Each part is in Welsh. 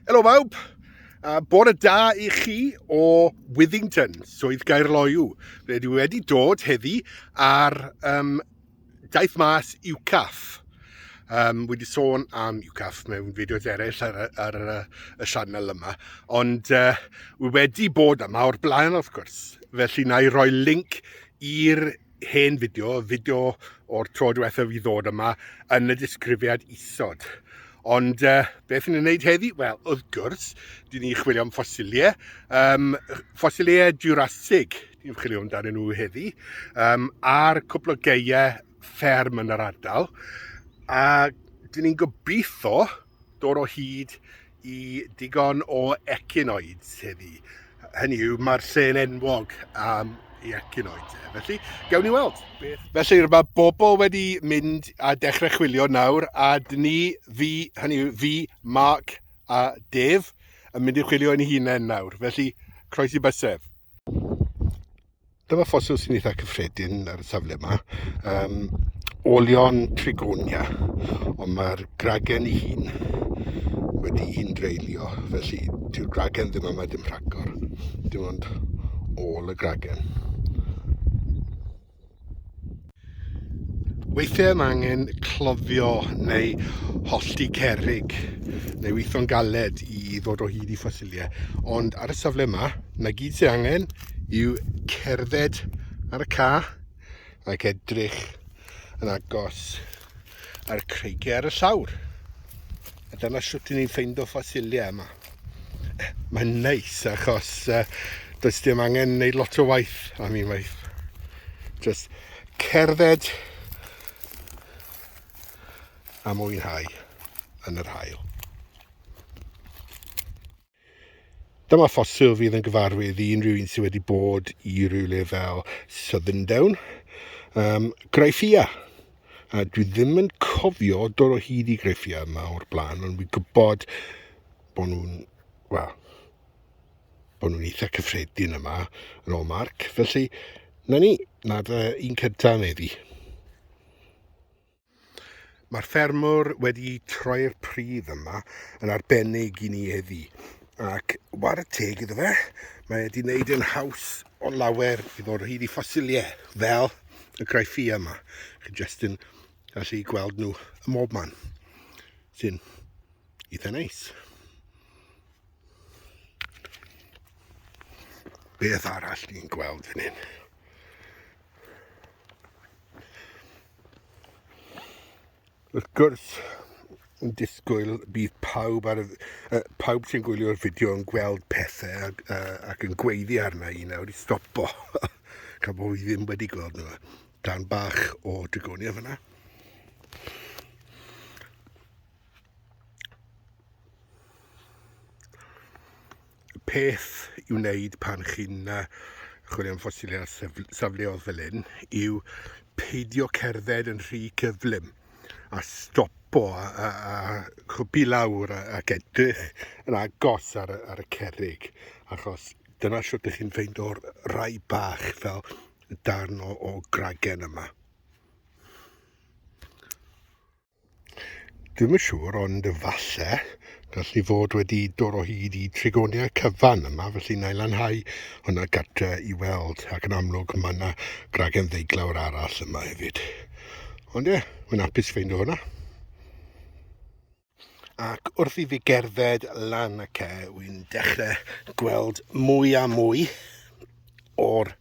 Helo bawb, a bod y da i chi o Withington, swydd Gaerloyw. Fe dwi wedi dod heddi ar um, daith mas UCAF. Um, wedi sôn am UCAF mewn fideos eraill ar, ar, ar y sianel yma, ond uh, wedi bod yma o'r blaen wrth gwrs. Felly na i roi link i'r hen fideo, fideo o'r tro diwethaf i ddod yma, yn y disgrifiad isod. Ond uh, beth yn ei wneud heddi? Wel, wrth gwrs, dyn ni'n chwilio am ffosiliau. Um, ffosiliau Jurassic, ni'n chwilio amdanyn nhw heddi, um, a'r cwpl o geiau fferm yn yr ardal. A dyn ni'n gobeithio dod o hyd i digon o ecinoids heddi. Hynny yw, mae'r lle'n enwog am i ecinoids. E. Felly, gawn ni weld. Beth? Felly, mae bobl wedi mynd a dechrau chwilio nawr, a dyn ni, fi, hynny yw, fi, Mark a Def, yn mynd i chwilio yn hunain nawr. Felly, croesi bysedd. Dyma ffosil sy'n eitha cyffredin ar y safle yma. Um, olion trigonia, ond mae'r gragen ei hun wedi un dreulio, felly ti'r gragen ddim yma dim rhagor. Dim ond ôl y gragen. Weithiau mae angen cloddio neu hollti cerig neu weithio'n galed i ddod o hyd i ffosiliau. Ond ar y safle yma, na gyd sy'n angen yw cerdded ar y ca ac edrych yn agos ar creigiau ar y llawr. A dyna sut ni'n ffeindio ffosiliau yma. Mae'n neis achos uh, does dim angen wneud lot o waith am un waith. Just cerdded a mwynhau yn yr hael. Dyma ffosil fydd yn gyfarwydd i unrhyw un sydd wedi bod i rywle fel Southern Down. Um, Graifia. A dwi ddim yn cofio dod o hyd i greffiau yma o'r blaen, ond fi'n gwybod bod nhw'n, wel, bod nhw'n eitha cyffredin yma yn ôl Marc. Felly, na ni, na dy un cynta yn eddi. Mae'r ffermwr wedi troi'r pridd yma yn arbennig i ni eddi. Ac war y teg iddo fe, mae wedi wneud yn haws o lawer i fod hyd i ffosiliau fel y graifia yma. Chi jyst yn gallu gweld nhw ym mob man, sy'n eitha neis. Beth arall ni'n gweld fan hyn? Wrth gwrs, yn disgwyl bydd pawb, ar y, uh, pawb sy'n gwylio'r fideo yn gweld pethau ac, uh, ac yn gweiddi arna i nawr i stopo. Gan bod fi ddim wedi gweld nhw. Dan bach o dygonia fyna. peth i'w wneud pan chi'n uh, chwilio am ffosilau safleodd fel hyn yw peidio cerdded yn rhy cyflym a stopo a, a, a chwpi lawr a, ac edrych yn agos ar, ar y cerrig achos dyna sut ydych chi'n ffeind o'r rai bach fel darn o, o gragen yma. Dwi'm yn siŵr, ond efallai, gall ni fod wedi dod o hyd i trigoniau cyfan yma, felly na i lanhau hwnna gatre i weld, ac yn amlwg mae yna gragen ddeiglawr arall yma hefyd. Ond ie, mae'n apus ffeindio hwnna. Ac wrth i fi gerdded lan y ce, wy'n dechrau gweld mwy a mwy o'r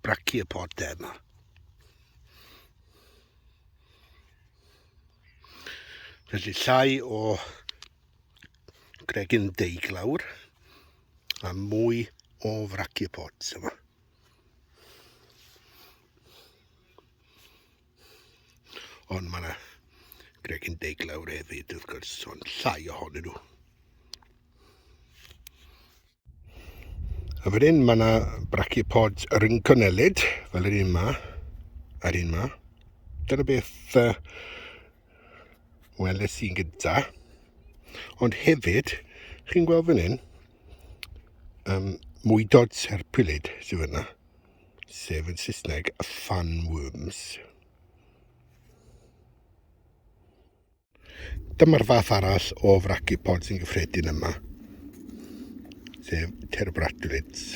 brachiopod yma. Felly llai o gregyn deiglawr a mwy o frachiopods yma. Ond mae yna gregyn deiglawr hefyd wrth gwrs, ond llai ohonyn nhw. A wedyn mae yna brachiopods rynconellid, fel yr un yma, a'r un yma. Dyna beth uh, weles i'n gyda. Ond hefyd, chi'n gweld fan hyn, um, mwydod serpwylid sydd yna, sef yn Saesneg y fanworms. Dyma'r fath arall o fraci pod sy'n gyffredin yma, sef terbratwlits.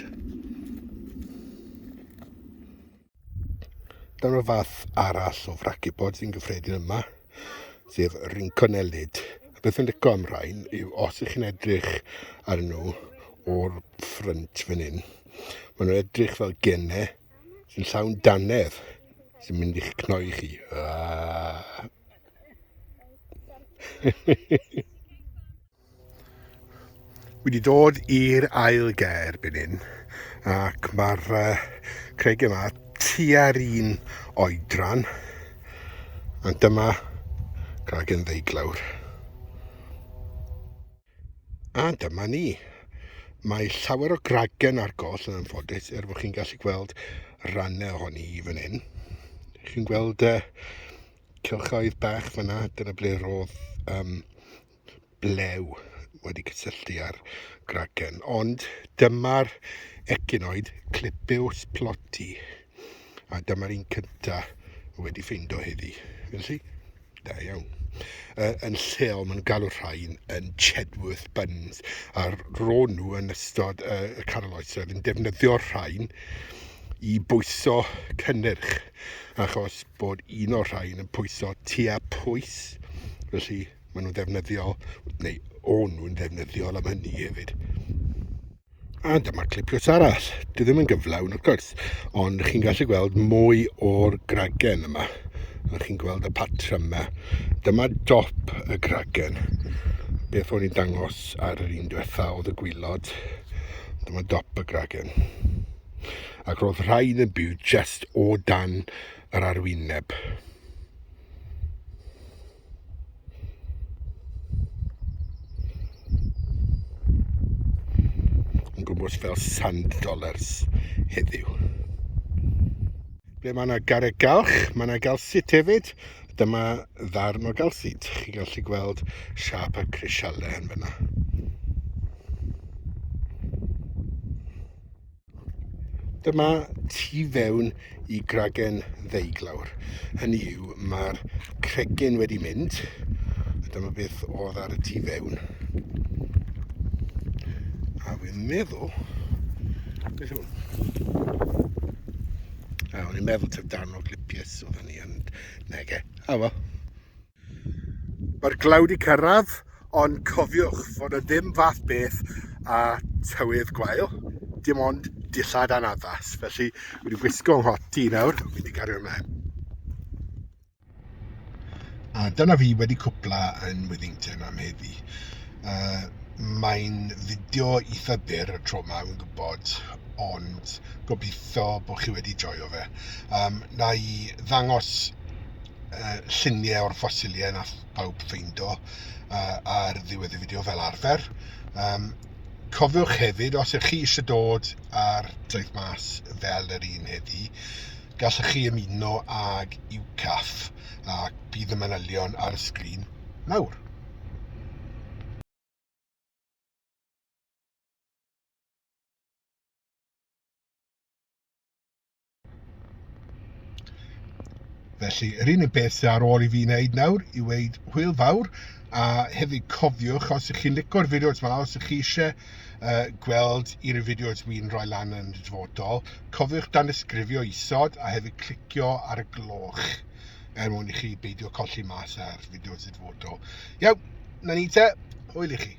Dyma'r fath arall o fraci pod sy'n gyffredin yma, sef rinconelid. A beth yn licio am rhain yw os ych chi'n edrych ar nhw o'r ffrynt fan hyn, maen nhw'n edrych fel gennau sy'n llawn danedd sy'n mynd i'ch cnoi chi. Aaaa. Wedi dod i'r ail ger byn hyn ac mae'r uh, craig yma tua'r un oedran a dyma craig yn ddeiglawr. A dyma ni. Mae llawer o gragen ar goll yn anffodus er bod chi'n gallu gweld rannau ohoni i fan hyn. Chi'n gweld uh, cylchoedd bach fan'na, dyna ble roedd yym blew wedi cysylltu â'r gragen. Ond dyma'r ecinoid Clipeus plotti, a dyma'r un cynta wedi ffeindo heddi. Felly, da iawn. Uh, yn lleol, maen nhw'n galw rhain yn Chedworth Buns, a ro'n nhw yn ystod uh, y canol oes, roedd yn defnyddio'r rhain i bwyso cynnyrch achos bod un o'r rhain yn pwyso tua pwys, felly maen nhw'n ddefnyddiol, neu o'n nhw'n ddefnyddiol am hynny hefyd. A dyma clipiwrs arall. Dwi ddim yn gyflawn, wrth gwrs, ond chi'n gallu gweld mwy o'r gragen yma. A chi'n gweld y patrymau. Dyma dop y gragen. Beth o'n i'n dangos ar yr un diwetha oedd y gwylod. Dyma dop y gragen. ac roedd rhaid yn byw jest o dan yr arwyneb. Yn gwmwys fel sand dollars heddiw. Ble mae yna garreg galch, mae yna galsit hefyd. Dyma ddarn o galsit. Chi'n gallu gweld siap y crisialau yn fyna. Dyma tu fewn i gragen ddeiglawr. Hynny yw, mae'r cregyn wedi mynd, a dyma beth oedd ar y tu fewn. A fi'n meddwl... Beth yw A o'n i'n meddwl taf darn o glipius oedd hynny, ond nege. A fo. Mae'r glaw 'di cyrraedd, ond cofiwch fod 'na ddim fath beth â tywydd gwael, dim ond dillad a'n addas. Felly, wedi gwisgo nghot i nawr, mynd i gario ymlaen. A dyna fi wedi cwpla yn Withington am heddi. Uh, mae'n fideo eitha byr y tro yma, yn gwybod, ond gobeithio bod chi wedi joio fe. Um, na i ddangos uh, lluniau o'r ffosiliau nath pawb ffeindo uh, ar ddiwedd y fideo fel arfer. Um, cofiwch hefyd, os ych chi eisiau dod ar Daith Mas fel yr un heddi, gallwch chi ymuno ag UCAF a bydd y manylion ar y sgrin nawr. Felly, yr unig beth sydd ar ôl i fi wneud nawr i weid hwyl fawr, a hefyd cofiwch os ych chi'n licor fideos yma, os ych chi eisiau uh, gweld un o'r fideos mi'n rhoi lan yn y dyfodol, cofiwch dan ysgrifio isod a hefyd clicio ar y gloch er mwyn i chi beidio colli mas ar fideos y dyfodol. Iaw, na ni te, hwyl i chi.